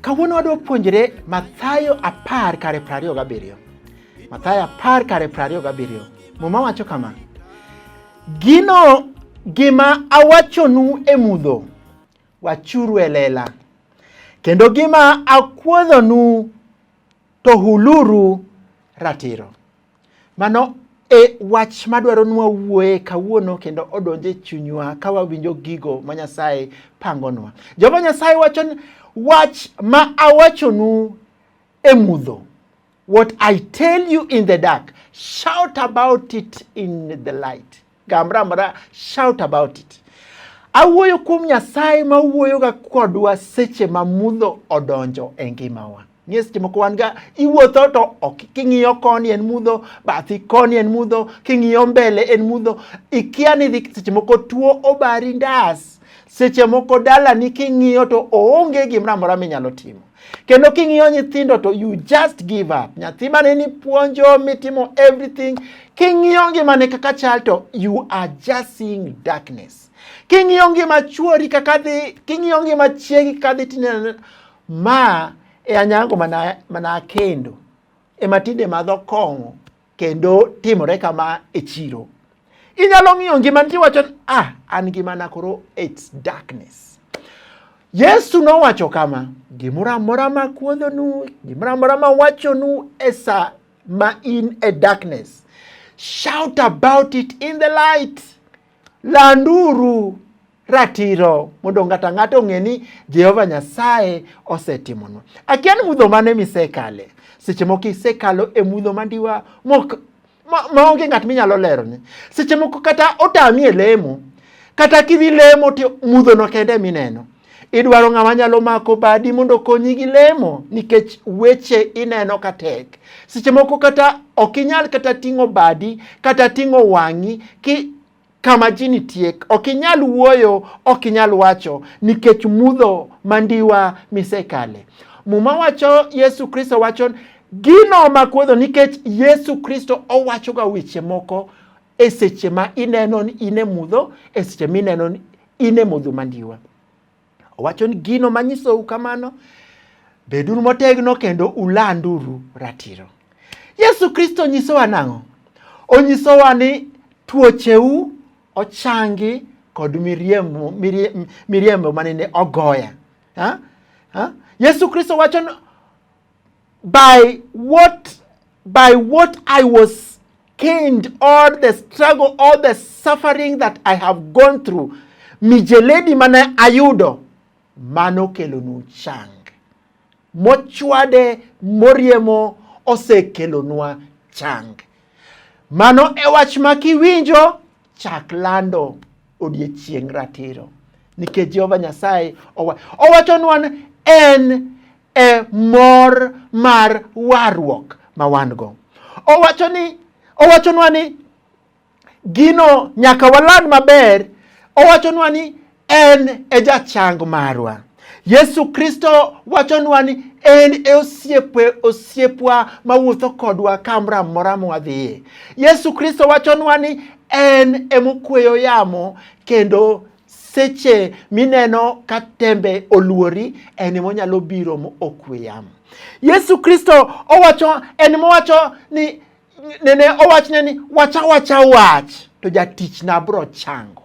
Kawuono wadwa puonjre Mathayo apar kare prariyo gabiriyo. Mathayo apar kare prariyo gabiriyo. Muma wacho kama. Gino gima awachonu e mudho, Wachuru e lela, kendo gima akuodhonu to huluru ratiro. Mano e wach madwaro nwa wuoye kawuono kendo odonje e chunywa ka wawinjo gigo ma Nyasaye pangonwa. Jehova Nyasaye wacho ni wach ma awachonu e mudho. What I tell you in the dark, shout about it in the light. Gamra mara, shout about it. Awuoyo kuom Nyasaye ma wuoyoga kodwa seche ma mudho odonjo e ngimawa. Ng'e seche moko wan ga iwuotho to ok king'iyo koni en mudho, bathi koni en mudho, king'iyo mbele en mudho. Ikia ni dhi seche moko tuo obari ndas. Seche moko dalani king'iyo to oonge gimoro amora minyalo timo. Kendo king'iyo nyithindo to you just give up. Nyathi mane ni puonjo mitimo everything, king'iyo ngimane kaka chal to you are just seeing darkness. King'iyo ngima chuori kaka dhi, king'iyo ngima chiegi kaka dhi tineno ma e anyango mana mana kendo. Ema tinde madho kong'o kendo timore kama e chiro. Inyalo ng'iyo ngima nitie wacho ah, an ngimana koro it's darkness. Yesu nowacho kama, gimoro amora ma kuodhonu, gimoro amora ma wachonu e sa ma in e darkness, shout about it in the light. Landuru ratiro mondo ng'ato ang'ata ong'e ni Jehova Nyasaye osetimonwa. Akia ni mudho mane misekale. Seche moko isekalo e mudho mandiwa mok maonge ng'at minyalo lero ni. Seche moko kata otami e lemo, kata kidhi lemo to mudhono kende mineno. Idwaro ng'ama nyalo mako badi mondo okonyi gi lemo nikech weche ineno ka tek. Seche moko kata ok inyal kata ting'o badi kata ting'o wang'i ki kama ji nitie ok inyal wuoyo, ok inyal wacho nikech mudho mandiwa misekale. Muma wacho Yesu Kristo wacho gino makuodho nikech Yesu Kristo owachoga weche moko e seche ma ineno in e mudho, e seche mineno in e mudho mandiwa. Owacho ni gino manyisou kamano, beduru motegno kendo ulanduru ratiro. Yesu Kristo nyisowa nang'o? Onyisowa ni tuocheu ochangi kod miriembo, miriembo, miriembo manene ogoya. Ha? Ha? Yesu Kristo wacho by what by what I was caned, all the struggle, all the suffering that I have gone through, mijeledi mane ayudo mano kelonu chang. Mochwade moriemo osekelonwa chang. Mano e wach ma kiwinjo chak lando odiechieng' ratiro nikech Jehova Nyasaye owachonwa en e mor mar warruok ma wan-go. Owacho ni owachonwa ni gino nyaka waland maber, owachonwa ni en e jachang marwa. Yesu Kristo wachonwa ni en e osiepe osiepwa mawuotho kodwa kamoro amora mwadhiye. Yesu Kristo wachonwa ni en emokweyo yamo kendo seche mineno ka tembe oluori en monyalo biro ma okwe yamo yesu kristo owacho en mowacho ni nene owachne ni wacha wacha wach to jatichna bro chango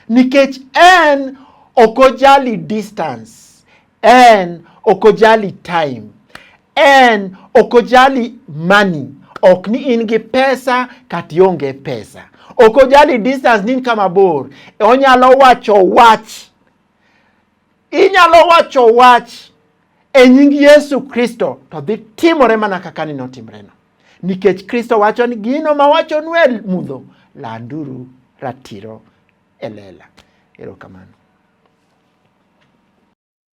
nikech en ok ojali distance en ok ojali time En ok ojali money, ok ni in gi pesa kata ionge pesa. Ok ojali distance ni in kama bor. Onyalo wacho wach. Inyalo wacho wach e nying Yesu Kristo to dhi timore mana kaka ni notimreno. Nikech Kristo wacho ni gino ma wacho nwe mudho landuru ratiro e lela. Erokamano.